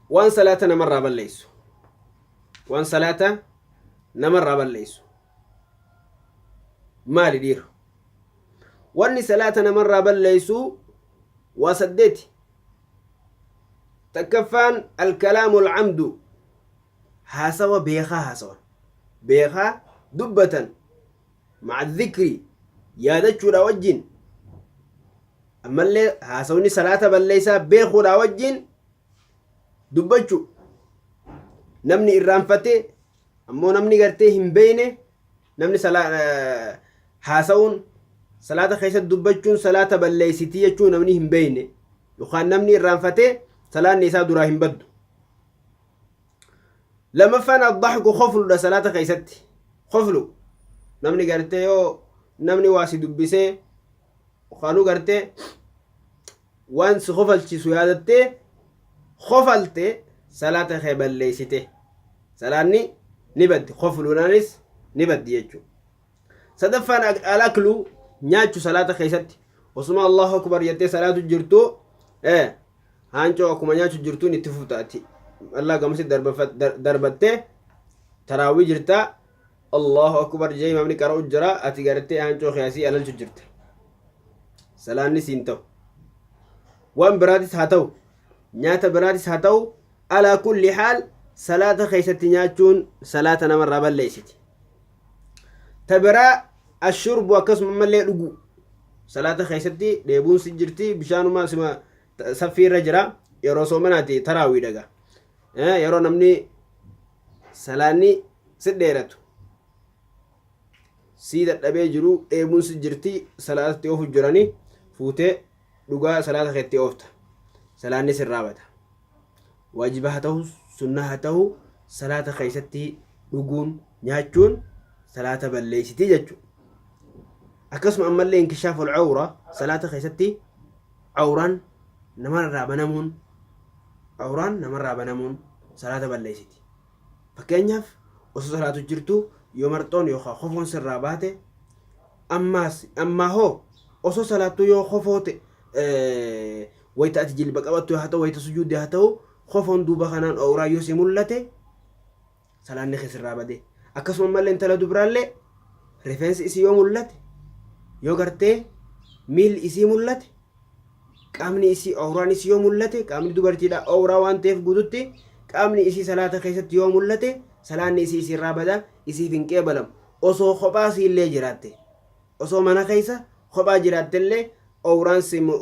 waan salaata namarraa balleessu waan salaata namarraa balleessu maali dhiira wanni salaata namarraa balleessu waa saddeeti takkaffaan alkalaamu alcamdu haasawa beekaa haasawan beekaa dubbatan مع الذكر yaadachuudhaa wajjin ammallee haasawni salaata balleessaa beekuudhaa wajjin dubbachu namni irraanfate ammoo namni gartee hin beeyne namni haasawuun salaata keessatti dubbachuun salaata balleessitii jechuun namni hin beeyne yookaan namni irraanfate salaanni isaa duraa hin baddu Lammaffaan ad-dahku kofludha salaata keessatti. Koflu namni gartee yoo namni waa si dubbisee kaanu gartee waan si kofalchiisu yaadattee kofalte salaata kee balleessite. Salaanni ni baddi. Kofluunaanis ni baddi jechuudha. sadaffaan alaklu nyaachu salaata keessatti osuma allahu akbar jettee salaatu jirtu ee haancoo akkuma nyaachu jirtuun itti fufta ati allaa gamasi darbattee taraawwii jirta allahu akbar jee imaamni qara'u jira ati gartee haancoo keessii alalchu jirta salaanni siin ta'u waan biraatis haa ta'u nyaata biraatis haa ta'u alaa kulli haal salaata keessatti nyaachuun salaata namarraa balleessiti ta biraa ashurbu akkasuma ammallee dhuguu salaata keessatti dheebuun si jirti bishaanumaa sima ta- saffii irra jira yeroo soomanaati taraawii dhaga Eh, yeroo namni salaanni si dheeratu sii dadhabee jiru dheebuun si jirti salaatatti ofu jirani fuutee Dhugaa salaata keetti oofta. Salaanni sirraa bada. Waajiba haa tahu, sunnaa haa tahu salaata keessatti dhuguun, nyaachuun salaata balleessiti jechuudha. Akkasuma ammallee inkishaaful cawra salaata keessatti cawraan namarraa banamuun cawraan namarraa banamuun salaata balleessiti. Fakkeenyaaf, osoo salaatu jirtuu yoo marxoon yookaa kofoon sirraa baate, ammaas, ammaa hoo osoo salaattuu yoo kofoo te, e, wayta ati jilba qabattu haa ta'u wayta sujuudde haa ta'u kofoon duuba kanaan owraa yoo si mul'ate salaanni kee sirraa bade. Akkasuma ammallee intala dubraallee rifeensi isii yoo mul'ate yoo gartee miilli isii mul'ate qaamni isii awraan isii yoo mul'ate qaamni dubartiidha awraa waan ta'eef guututti qaamni isii salaata keessatti yoo mul'ate salaanni isii isii irraa bada isiif hin qeebalamu osoo kophaa isii illee jiraatte osoo mana keessa kophaa jiraatte illee awraan simu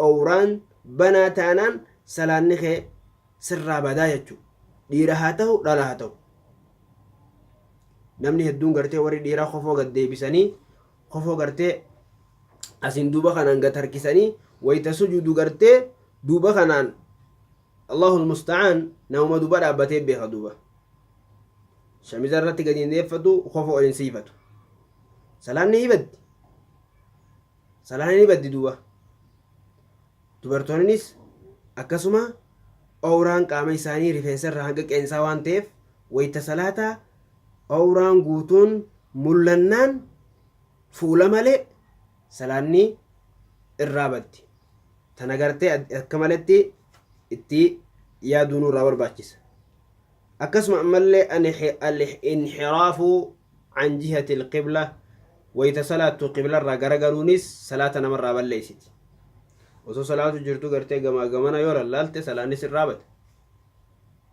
awraan banaa taanaan salaanni kee sirraa badaa jechuudha dhiira haa ta'u dhala haa ta'u namni hedduun gartee warri dhiiraa kofoo gad deebisanii kofoo gartee asiin duuba kanaan gad harkisanii wayta sujuudu gartee duuba kanaan Allahul musta'aan namuma duuba dhaabbatee beeka duuba shamiza irratti gadi hin deeffatu kofoo ol hin siifatu salaan ni baddi salaan ni baddi duuba dubartoonnis akkasuma awraan qaama isaanii rifeensa irraa hanga qeensaa waan ta'eef wayta salaataa Awraan guutuun mul'annaan fuula malee salaanni irraa baddi. Tana gartee akka maletti itti yaaduu nurraa barbaachisa. Akkasuma ammallee al-inhiraafu an jihati al-qibla wayta salaattu qibla irraa garagaluunis salaata namarraa balleessiti. Osoo salaatu jirtu gartee gamaa gamana yoo lallaalte salaanni sirraa bada.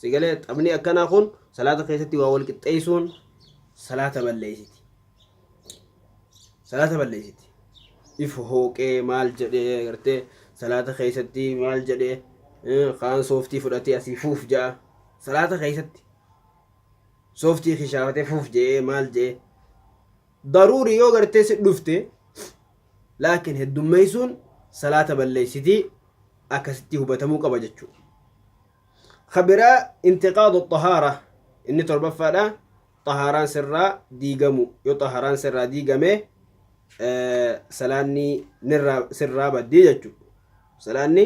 Sigalee xabni akkanaa kun salaata keessatti waa wal qixxeessuun salaata balleessiti. Salaata balleessiti. If hooqee maal jedhee gartee salaata keessatti maal jedhee kaan sooftii fudhatee asii fuuf ja'a. Salaata keessatti sooftii kishaafatee fuuf je'ee maal je'ee daruuri yoo gartee si dhufte laakiin heddummeeysuun salaata balleeysiti akkasitti hubatamuu qaba jechuu kabiraa intiqaadu xahaara inni torbaffaadha xahaaraan sirraa diigamu yoo xahaaraan sirraa diigame salaanni sirraa baddii jechuu salaanni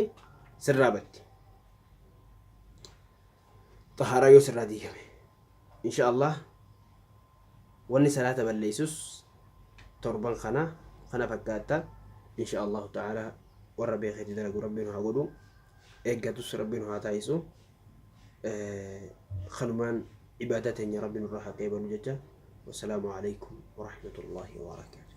sirraa baddi xahaaraa yoo sirraa diigame Insha Allah wanni salaata balleessus torban kana kana fakkaatta insha Allahu ta'aala warra beekee itti dalagu rabbi nu haa godhu eeggatus rabbi nu haa taasisu kanumaan ibaadaa teenya rabbi nurraa haa qeebalu jecha wassalaamu alaikum warahmatullahi wabarakatuh